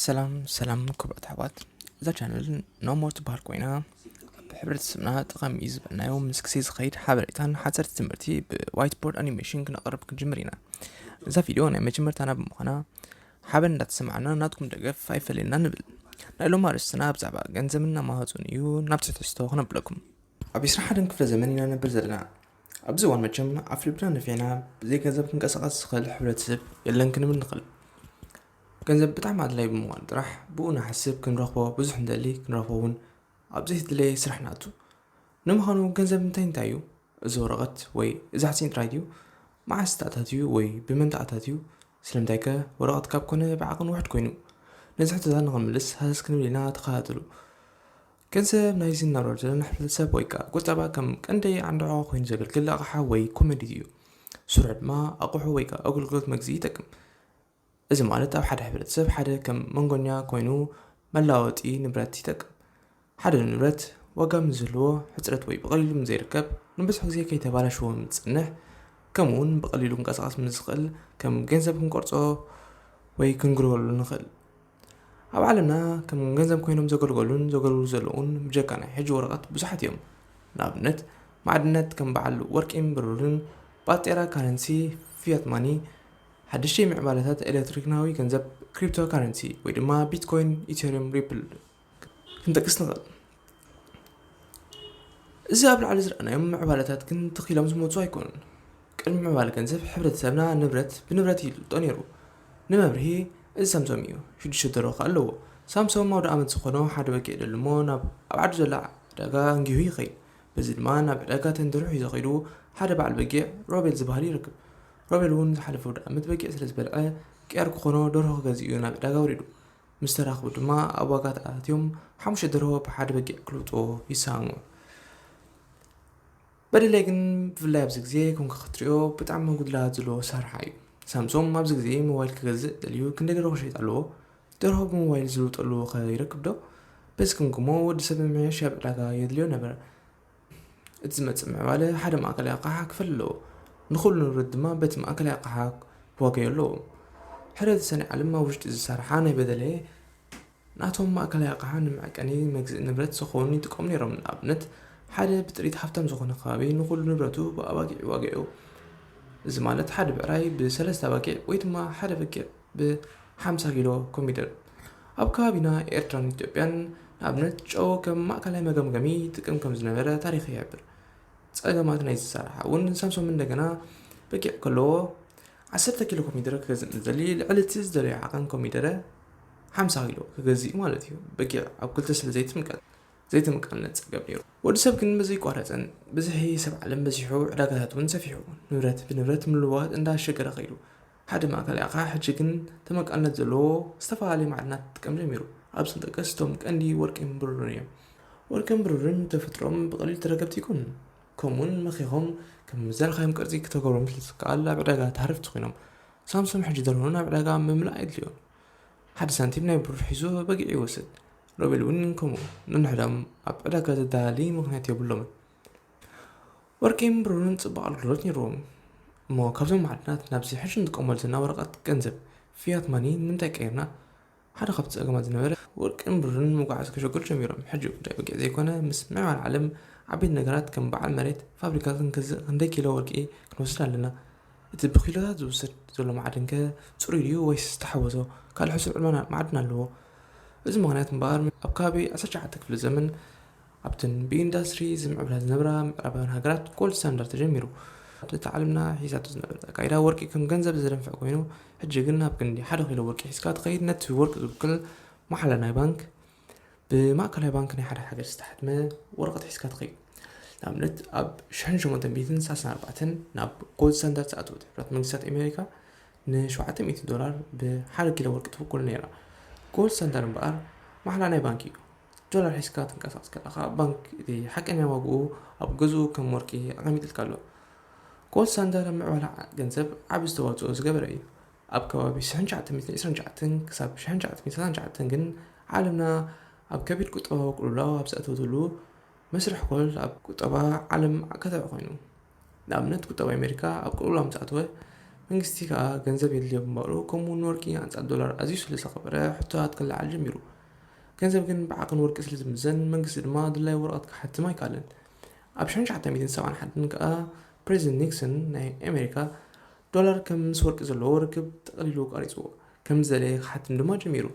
ሰላም ሰላም ክብረት ኣሕዋት እዛ ቻነል ኖሞር ትበሃል ኮይና ኣብ ሕብረተሰብና ጠቐሚ እዩ ዝበልናዮ ምስ ግዜ ዝኸይድ ሓበሬታን ሓፀርቲ ትምህርቲ ብዋይት ቦርድ ኣኒሜሽን ክነቕርብ ክንጅምር ኢና እዛ ቪድዮ ናይ መጀመርታና ብምዃና ሓበን እንዳተሰማዕና ናትኩም ደገፍ ኣይፈለየና ንብል ናይ ሎም ኣርእስትና ብዛዕባ ገንዘብና ማሃፁን እዩ ናብ ትሕተስቶ ክነብለኩም ኣብ 21 ክፍለ ዘመን ኢና ነብር ዘለና ኣብዚ እዋን መቸም ኣፍልብና ነፊዕና ብዘይ ገንዘብ ክንቀሳቐስ ዝኽእል ሕብረተሰብ የለን ክንብል ንኽእል ገንዘብ ብጣዕሚ ኣድላይ ብምዃኑ ጥራሕ ብኡ ንሓስብ ክንረኽቦ ብዙሕ ንደሊ ክንረኽቦ እውን ኣብ ዘይተድለየ ስራሕ ንኣቱ ንምዃኑ ገንዘብ እንታይ እንታይ እዩ እዚ ወረቐት ወይ እዚ ሓፂን ጥራይ ድዩ መዓስ ተኣታትዩ ወይ ብመን ተኣታትዩ ስለምንታይ ከ ወረቐት ካብ ኮነ ብዓቕን ውሕድ ኮይኑ ነዚ ሕቶታት ንኽንምልስ ሃሰስ ክንብል ኢና ተኸታተሉ ገንዘብ ናይዚ እናብረር ዘለና ሕብረተሰብ ወይ ከዓ ቁጠባ ከም ቀንዲ ዓንድዖ ኮይኑ ዘገልግል ኣቕሓ ወይ ኮመዲት እዩ ስርሑ ድማ ኣቑሑ ወይ ከዓ ኣገልግሎት መግዚ ይጠቅም እዚ ማለት ኣብ ሓደ ሕብረተሰብ ሓደ ከም መንጎኛ ኮይኑ መለዋወጢ ንብረት ይጠቅም። ሓደ ንብረት ዋጋ ምስ ዝህልዎ ሕፅረት ወይ ብቐሊሉ ምስ ዘይርከብ ንብዙሕ ግዜ ከይተባላሸወ ምስ ዝፀንሕ ከምኡ እውን ብቐሊሉ ክንቀሳቐስ ምስ ዝኽእል ከም ገንዘብ ክንቆርፆ ወይ ክንግልገለሉ ንኽእል። ኣብ ዓለምና ከም ገንዘብ ኮይኖም ዘገልገሉን ዘገልግሉ ዘለዉን ብጀካ ናይ ሕጂ ወረቐት ብዙሓት እዮም። ንኣብነት ማዕድናት ከም በዓል ወርቂን ብሩርን፣ ባጤራ ካረንሲ፣ ፊያት ማኒ፣ ሓደሽቲ ምዕባለታት ኤሌክትሮኒካዊ ገንዘብ፣ ክሪፕቶካረንሲ ወይ ድማ ቢትኮይን፣ ኢተሪየም፣ ሪፕል ክንጠቅስ ንኽእል። እዚ ኣብ ላዕሊ ዝረኣናዮም ምዕባለታት ግን ትኽ ኢሎም ዝመፁ ኣይኮኑን። ቅድሚ ምዕባለ ገንዘብ ሕብረተሰብና ንብረት ብንብረት እዩ ዝልጦ ነይሩ። ንመብርሂ እዚ ሳምሶም እዩ። ሽዱሽተ ደርሆ ከኣ ኣለዎ። ሳምሶም ኣውደ ኣመት ዝኾኖ ሓደ በጊዕ ይደሊ እሞ ናብ ኣብ ዓዱ ዘላ ዕዳጋ ኣንጊሁ ይኸይድ። በዚ ድማ ናብ ዕዳጋ ተንደርሑ ሒዞ ከይዱ ሓደ በዓል በጊዕ ሮቤል ዝበሃል ይረክብ። ሮቤል እውን ዝሓለፈ ኣውደ ኣመት በጊዕ ስለ ዝበልዐ ቅያር ክኾኖ ደርሆ ክገዝእ እዩ ናብ ዕዳጋ ወሪዱ። ምስ ተራኽቡ ድማ ኣብ ዋጋ ተኣታትዮም ሓሙሽተ ደርሆ ብሓደ በጊዕ ክልውጥዎ ይሰሃሙ። በደሌ ግን ብፍላይ ኣብዚ ግዜ ኮንካ ክትሪኦ ብጣዕሚ ጉድላት ዘለዎ ኣሰራርሓ እዩ። ሳምሶም ኣብዚ ግዜ ሞባይል ክገዝእ ደልዩ ክንደይ ደርሆ ክሸይጥ ኣለዎ? ደርሆ ብሞባይል ዝልውጠሉ ከ ይረክብ ዶ? በዚ ክምግሞ ወዲ ሰብ ምምሕያሽ ኣብ ዕዳጋ የድልዮ ነበረ። እቲ ዝመጽእ ምዕባለ ሓደ ማእከላይ ኣቕሓ ክፈሊ ኣለዎ፣ ንኹሉ ንብረት ድማ በቲ ማእከላይ ኣቕሓ ክዋገዮ ኣለዎ። ሕረ ዝሰነይ ዓለም ኣብ ውሽጢ ዝሰርሓ ናይ በደሌ ናቶም ማእከላይ ኣቕሓ ንመዕቀኒ መግዝኢ ንብረት ሰኮን ይጥቀሙ ነይሮም። ንኣብነት ሓደ ብጥሪት ሃብታም ዝኾነ ከባቢ ንኹሉ ንብረቱ ብኣባጊዕ ይዋገዮ። እዚ ማለት ሓደ ብዕራይ ብሰለስተ ኣባጊዕ ወይ ድማ ሓደ በጊዕ ብ ሓምሳ ኪሎ ኮሚደረ ኣብ ከባቢና ኤርትራን ኢትዮጵያን ንኣብነት ጨው ከም ማእከላይ መገምገሚ ይጥቀም ከም ዝነበረ ታሪኽ ይሕብር። ጸገማት ናይዚ ኣሰራርሓ እውን ሳምሶም እንደገና በጊዕ ከለዎ ዓሰርተ ኪሎ ኮሚደረ ክገዝእ ንዝደሊ ልዕሊ እቲ ዝደለዮ ዓቐን ኮሚደረ ሓምሳ ኪሎ ክገዝእ'ዩ ማለት እዩ። በጊዕ ኣብ ክልተ ስለ ዘይትምቀል ዘይትምቀልነት ጸገም ነይሩ። ወዲ ሰብ ግን ብዘይቋረጸን ብዝሒ ሰብ ዓለም በዚሑ ዕዳጋታት እውን ሰፊሑ ንብረት ብንብረት ምልውዋጥ እንዳ ኣሸገረ ከይዱ። ሓደ ማእከላይ ኣቕሓ ሕጂ ግን ተመቃልነት ዘለዎ ዝተፈላለየ ማዕድናት ክጥቀም ጀሚሩ። ኣብዚኦም ጠቀስ እቶም ቀንዲ ወርቂን ብሩርን እዮም። ወርቅን ብሩርን ብተፈጥሮኦም ብቐሊሉ ተረከብቲ ኣይኮኑን። ከምኡውን መኺኾም ከም ምዘርኻዮም ቅርጺ ክተገብሮም ስለ ዝከኣል ኣብ ዕዳጋ ተሃረፍቲ ኮይኖም። ሳምሶም ሕጂ ደርሆ ናብ ዕዳጋ ምምላእ ኣየድልዮን። ሓደ ሳንቲም ናይ ብሩር ሒዙ በጊዕ ይወስድ። ሮቤልውን ከምኡ። ነንሕድኦም ኣብ ዕዳጋ ዘደላሊ ምኽንያት የብሎምን። ወርቂን ብሩርን ጽቡቕ ኣገልግሎት ነይርዎም። እሞ ካብዞም ማዕድናት ናብዚ ሕጂ ንጥቀመሉ ዘለና ወረቐት ገንዘብ፣ ፊያት ማኒ፣ ንምንታይ ቀይርና? ሓደ ካብቲ ጸገማት ዝነበረ፣ ወርቅን ብሩርን ንምጉዕዓዝ ከሸግሩ ጀሚሮም፣ ሕጂ ጉዳይ ወግዒ ዘይኮነ ምስ ምዕባለ ዓለም ዓበይቲ ነገራት ከም በዓል መሬት፣ ፋብሪካ ክንገዝእ ክንደይ ኪሎ ወርቂ ክንወስድ ኣለና? እቲ ብኪሎታት ዝውሰድ ዘሎ ማዕድንከ ጽሩይ ድዩ ወይስ ዝተሓወሶ ካልእ ሕሱር ዕልዋ ማዕድን ኣለዎ? በዚ ምኽንያት እምበኣር ኣብ ከባቢ ዓሰርተ ትሽዓተ ክፍለ ዘመን፣ ኣብተን ብኢንዳስትሪ ዝምዕብላ ዝነብራ ምዕራባውያን ሃገራት ጎልድ ስታንዳርድ ተጀሚሩ ኣብቲ እታ ዓለምና ሒዛቶ ዝነበረት ኣካይዳ ወርቂ ከም ገንዘብ ዘደንፍዕ ኮይኑ ሕጂ ግን ኣብ ክንዲ ሓደ ኪሎ ወርቂ ሒዝካ ትኸይድ ነቲ ወርቂ ዝውክል ማሓላ ናይ ባንክ ብማእከላይ ባንክ ናይ ሓደ ሃገር ዝተሓትመ ወረቐት ሒዝካ ትኸይድ ንኣብነት ኣብ ሽሕን ሸሞንተን ሚእትን ሳልሳን ኣርባዕተን ናብ ጎልድ ስታንዳርድ ዝኣተወት ሕብራት መንግስታት ኣሜሪካ ንሸውዓተ ሚእቲ ዶላር ብሓደ ኪሎ ወርቂ ትውክል ነይራ ጎልድ ስታንዳርድ እምበኣር ማሕላ ናይ ባንክ እዩ ዶላር ሒዝካ ትንቀሳቐስ ከለኻ ባንክ እቲ ሓቀኛ ዋግኡ ኣብ ገዝኡ ከም ወርቂ ኣቐሚጥልካ ኣሎ። ኮል ሳንደር ኣብ ምዕባለ ገንዘብ ዓቢ ዝተዋጽኦ ዝገበረ እዩ። ኣብ ከባቢ 1929 ክሳብ 1939 ግን ዓለምና ኣብ ከቢድ ቁጠባዊ ቅልውላው ኣብ ዝኣተወትሉ መስርሕ ኮል ኣብ ቁጠባ ዓለም ኣከታዒ ኮይኑ። ንኣብነት ቁጠባ ኣሜሪካ ኣብ ቅልውላው ምስ ኣተወ፣ መንግስቲ ከኣ ገንዘብ የድልዮ ብምባሉ፣ ከምኡ'ውን ንወርቂ ኣንጻር ዶላር ኣዝዩ ስለ ዝኸበረ ሕቶታት ክለዓል ጀሚሩ። ገንዘብ ግን ብዓቕን ወርቂ ስለ ዝምዘን፣ መንግስቲ ድማ ኣድላዩ ወረቐት ክሓትም ኣይከኣለን። ኣብ ሽሕን ትሽዓተ ሚእትን ሰብዓን ሓደን ከኣ ፕረዚደንት ኒክሰን ናይ ኣሜሪካ፣ ዶላር ከም ምስ ወርቂ ዘለዎ ርክብ ጠቕሊሉ ቋሪጽዎ፣ ከም ዝደለየ ክሓትም ድማ ጀሚሩ።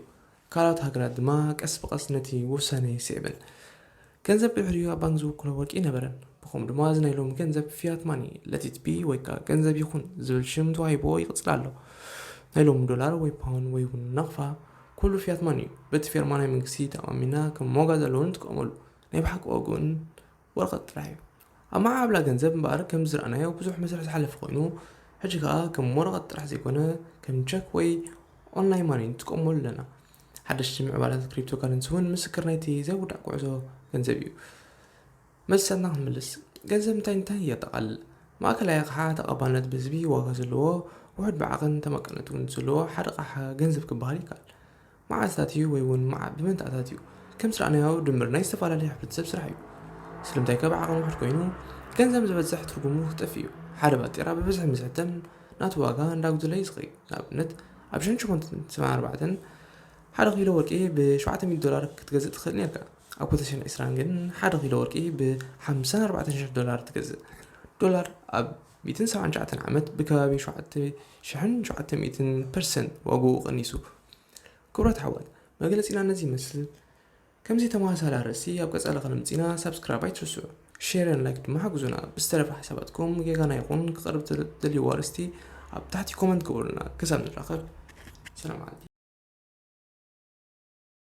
ካልኦት ሃገራት ድማ ቀስ ብቐስ ነቲ ውሳነ ስዒበን ገንዘብ ድሕሪኡ ኣብ ባንክ ዝውክሎ ወርቂ ኣይነበረን። ብኸምኡ ድማ እዚ ናይ ሎሚ ገንዘብ ፊያት ማኒ፣ ለት ኢት ቢ ወይ ከኣ ገንዘብ ይኹን ዝብል ሽም ተዋሂብዎ ይቕጽል ኣሎ። ናይ ሎሚ ዶላር ወይ ፓውን ወይ እውን ናቕፋ ኩሉ ፊያት ማኒ እዩ። በቲ ፌርማ ናይ መንግስቲ ተኣማሚንና ከም ዋጋ ዘለዎ ንጥቀመሉ። ናይ ብሓቂ ዋግኡን ወረቐት ጥራሕ እዩ። ኣብ መዓብላ ገንዘብ እምበኣር ከምዚ ዝረኣናዮ ብዙሕ መስርሕ ዝሓለፈ ኮይኑ ሕጂ ከኣ ከም ወረቐት ጥራሕ ዘይኮነ ከም ቸክ ወይ ኦንላይን ማኒ ንጥቀመሉ ኣለና። ሓደሽቲ ምዕባላት ክሪፕቶ ካረንሲ እውን ምስክር ናይቲ ዘይውዳእ ጉዕዞ ገንዘብ እዩ። መልስታትና ክንምልስ ገንዘብ እንታይ እንታይ የጠቓልል? ማእከላይ ኣቕሓ ተቐባልነት ብህዝቢ ዋጋ ዘለዎ ውሑድ ብዓቕን ተመቀነት እውን ዘለዎ ሓደ ኣቕሓ ገንዘብ ክበሃል ይከኣል። መዓልትታት እዩ ወይ እውን መዓ ብመንታኣታት እዩ ከም ስራኣናዮ ድምር ናይ ዝተፋላለዩ ሕብረተሰብ ስራሕ እዩ ስለምንታይ ከብ ዓቅሚ ውሕድ ኮይኑ ገንዘብ ዝበዝሕ ትርጉሙ ክጠፍእ እዩ ሓደ ባጤራ ብብዝሒ ምስ ሕተም ናቱ ዋጋ እንዳጉደለ ይስከይ ንኣብነት ኣብ ሽሕን ሸሞንትን ሰማን ኣርባዕተን ሓደ ኪሎ ወርቂ ብ ሸውዓተ ሚእቲ ዶላር ክትገዝእ ትክእል ኔርካ ኣብ ክልተ ሽሕን ዕስራን ግን ሓደ ኪሎ ወርቂ ብ ሓምሳን ኣርባዕተን ሽሕ ዶላር ትገዝእ ዶላር ኣብ ሚእትን ሰብዓን ትሽዓተን ዓመት ብከባቢ ሸውዓተ ሽሕን ሸውዓተ ሚእትን ፐርሰንት ዋግኡ ቀኒሱ። ክቡራት ኣሕዋት መግለጺና ነዚ ይመስል። ከምዚ ተመሳሳሊ ኣርእስቲ ኣብ ቀጻሊ ከነምጺና ሳብስክራይብ ኣይትርስዑ። ሼርን ላይክ ድማ ሓግዙና። ብዝተረፈ ሓሳባትኩም ጌጋና ይኹን ክቐርብ ትደልይዎ ኣርእስቲ ኣብ ታሕቲ ኮመንት ግበሩልና። ክሳብ ንራኸብ ሰላም ዓዲ።